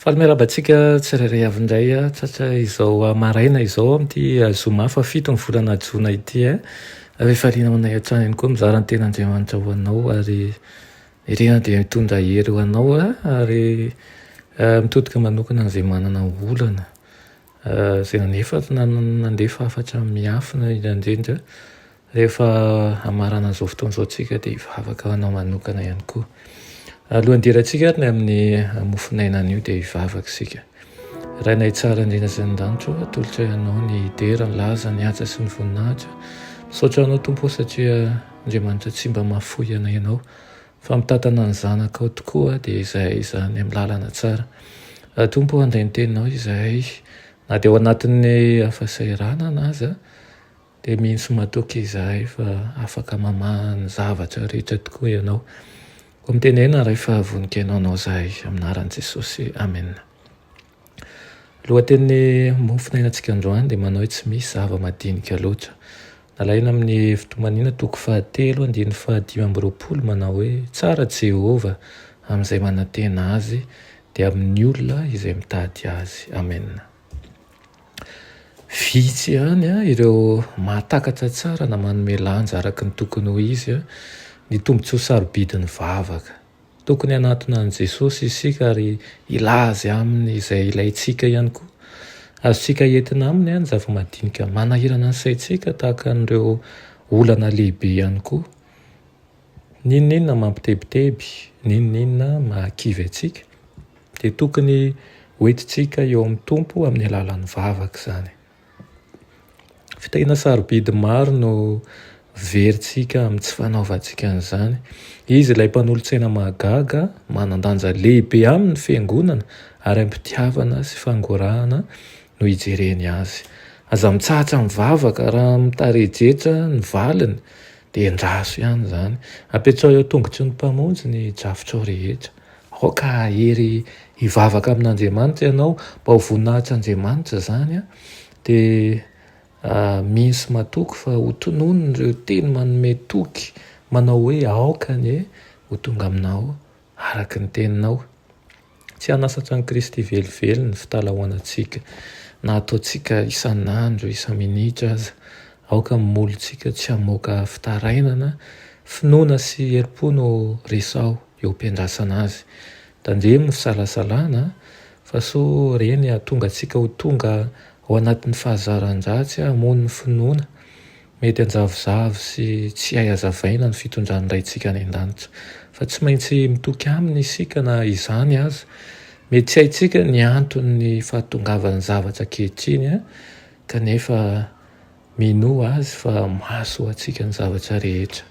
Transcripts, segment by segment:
Faly miarahaba antsika tsirairay avy indray tratra izao maraina izao amin'ity zoma fahafito ny volana jona ity a rehefa liana ho anay hatrany ihany koa mizara ny ten'Andriamanitra ho anao ary irina dia mitondra hery ho anao ary mitodika manokana izay manana olana izay nanefa nandefa hafatra miafina indrindra rehefa hamarana an'izao fotoana izao isika dia hivavaka ho anao manokana ihany koa. Alohan'ny hidirantsika ary ny amin'ny mofon'aina anio dia hivavaka isika. Rainay tsara indrindra sy ny danitro, atolotra ianao ny dera, ny laza, ny haja sy ny voninahitra. Misaotra anao Tompo satria Andriamanitra tsy mba mahafoy anay ianao. Fa mitantana ny zanakao tokoa dia izahay izany amin'ny lalana tsara. Raha Tompo handray ny teninao izahay, na dia ao anatin'ny hafasahiranana aza, dia mino sy matoky izahay fa afaka mamaha ny zavatra rehetra tokoa Ianao. Koa mitenena Ray fa vonon-kenao anao izahay. Amin'ny anaran'i Jesosy. Amena. Lohatenin'ny mofonainantsika androany dia manao hoe tsy misy zava-madinika loatra. Nalaina amin'ny hevi-tomaniana toko fahatelo andininy fahadimy amby roapolo manao hoe, Tsara Jehovah amin'izay manantena azy, dia amin'ny olona izay mitady azy. Amena. Vitsy ihany ireo mahatakatra tsara na manome lanja araka ny tokony ho izy ny tombontsoa sarobidin'ny vavaka. Tokony hanatona an'i Jesosy isika ary hilaza Aminy izay ilaintsika ihany koa. Azontsika entina Aminy ny zava-madinika manahirana ny saintsika tahaka an'ireo olana lehibe ihany koa. N'inon'inona mampitebiteby, n'inon'inona mahakivy antsika dia tokony hoentintsika eo amin'ny Tompo amin'ny alalan'ny vavaka izany. Fitahiana sarobidy maro no verintsika amin'ny tsy fanaovantsika an'izany. Izy ilay mpanolotsaina mahagaga, manan-danja lehibe aminy ny Fiangonana ary am-pitiavana sy fangorahana no ijereny azy. Aza mitsahatra mivavaka raha mitarejetra ny valiny dia endraso ihany izany. Apetraho eo an-tongotry ny Mpamonjy ny drafitrao rehetra. Aoka hahery hivavaka amin'Andriamanitra ianao mba ho voninahitr'Andriamanitra izany an, dia mino sy matoky fa ho tononiny ireo teny manome toky manao hoe aoka anie ho tonga aminao araka ny teninao. Tsy hanasatra an'i Kristy velively ny fitalahoanantsika na ataontsika isan'andro, isa-minitra aza. Aoka ny molontsika tsy hamoaka fitarainana, finoana sy herim-po no resaho eo am-piandrasana azy. Tandremo ny fisalasalana fa soa ireny hahatonga antsika ho tonga ao anatin'ny fahazaran-dratsy hamono ny finoana. Mety hanjavozavo sy tsy hay hazavaina ny fitondran'ny Raintsika any An-danitra, fa tsy maintsy mitoky Aminy isika na izany aza. Mety tsy haintsika ny anton'ny fahatongavan'ny zavatra ankehitriny kanefa Minoa Azy fa mahasoa antsika ny zavatra rehetra.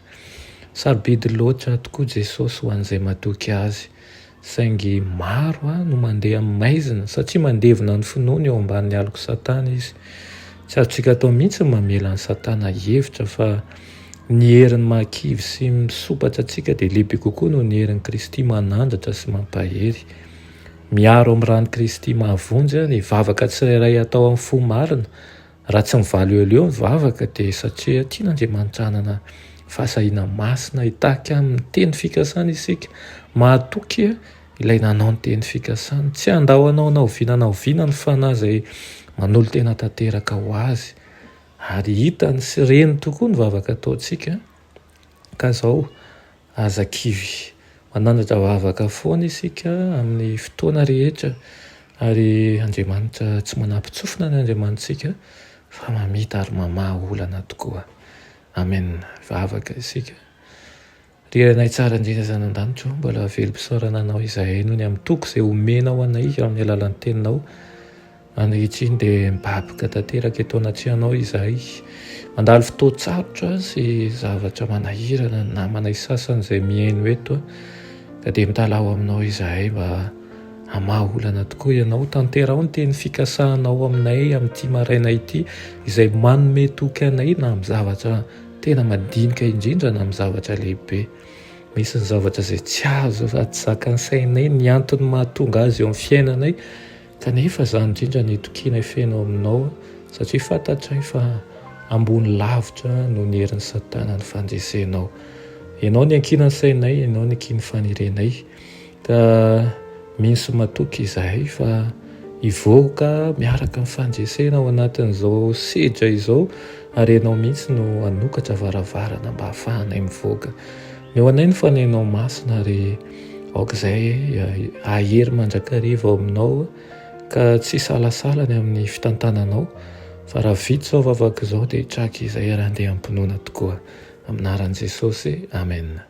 Sarobidy loatra tokoa Jesosy ho an'izay matoky Azy, saingy maro no mandeha amin'ny maizina satria mandevina ny finoany eo ambanin'ny alok'i Satana izy. Tsy azontsika atao mihitsy ny mamela an'i Satana hihevitra fa ny heriny mahakivy sy misopatra antsika dia lehibe kokoa noho ny herin'i Kristy manandratra sy mampahery. Miaro amin'ny ran'i Kristy mahavonjy ny vavaka tsirairay atao amin'ny fo marina, Raha tsy mivaly eo leo ny vavaka dia satria tian'Andriamanitra hanana fahasahiana masina hitaky amin'ny teny fikasany isika. Mahatoky Ilay nanao ny teny fikasany. Tsy handao anao na oviana na oviana ny fanahy izay manolo-tena tanteraka ho Azy. Ary hitany sy reny tokoa ny vavaka ataontsika. Ka izao, Aza kivy. Manandratra vavaka foana isika amin'ny fotoana rehetra ary Andriamanitra tsy manapitsofina ny Andriamanitrtsika fa mamita ary mamaha olana tokoa. Amen. Vavaka isika. Ry Renay tsara indrindra zanandanitra o, mbola velom-pisaorana anao izahay noho ny amin'ny toky izay omenao anay amin'ny alalan'ny teninao. Ankehitriny dia mibaboka tanteraka eto anatrehanao izahay. Mandalo fotoan-tsarotra sy zavatra manahirana ny namanay sasany izay mihaino eto, ka dia mitalaho aminao izahay mba hamaha olana tokoa ianao. Tanteraho ny teny fikasanao aminay amin'ity maraina ity, izay manome toky anay na amin'ny zavatra tena madinika indrindra na amin'ny zavatra lehibe. Misy ny zavatra izay tsy azo sady zakan'ny sainay ny antony mahatonga azy eo amin'ny fiainanay, Kanefa izany indrindra no itokiana hifehy ao aminao, satria fantatray fa ambony lavitra noho ny herin'i Satana ny fandresenao. Ianao no iankinan'ny sainay, Ianao no iankin'ny fanirenay, ka mino sy matoky izahay fa hivoaka miaraka amin'ny fandresena ao anatin'izao sedra izao, ary Ianao mihitsy no hanokatra varavarana mba hahafahanay mivoaka. Eo anay ny fanahinao masina ary aok'izay hahery mandrakariva ao aminao ka tsy hisalasala ny amin'ny fitantananao fa raha vita izao vavaka izao dia hitraka izay ary handeha am-pinoana tokoa. Amin'ny anaran'i Jesosy, amena.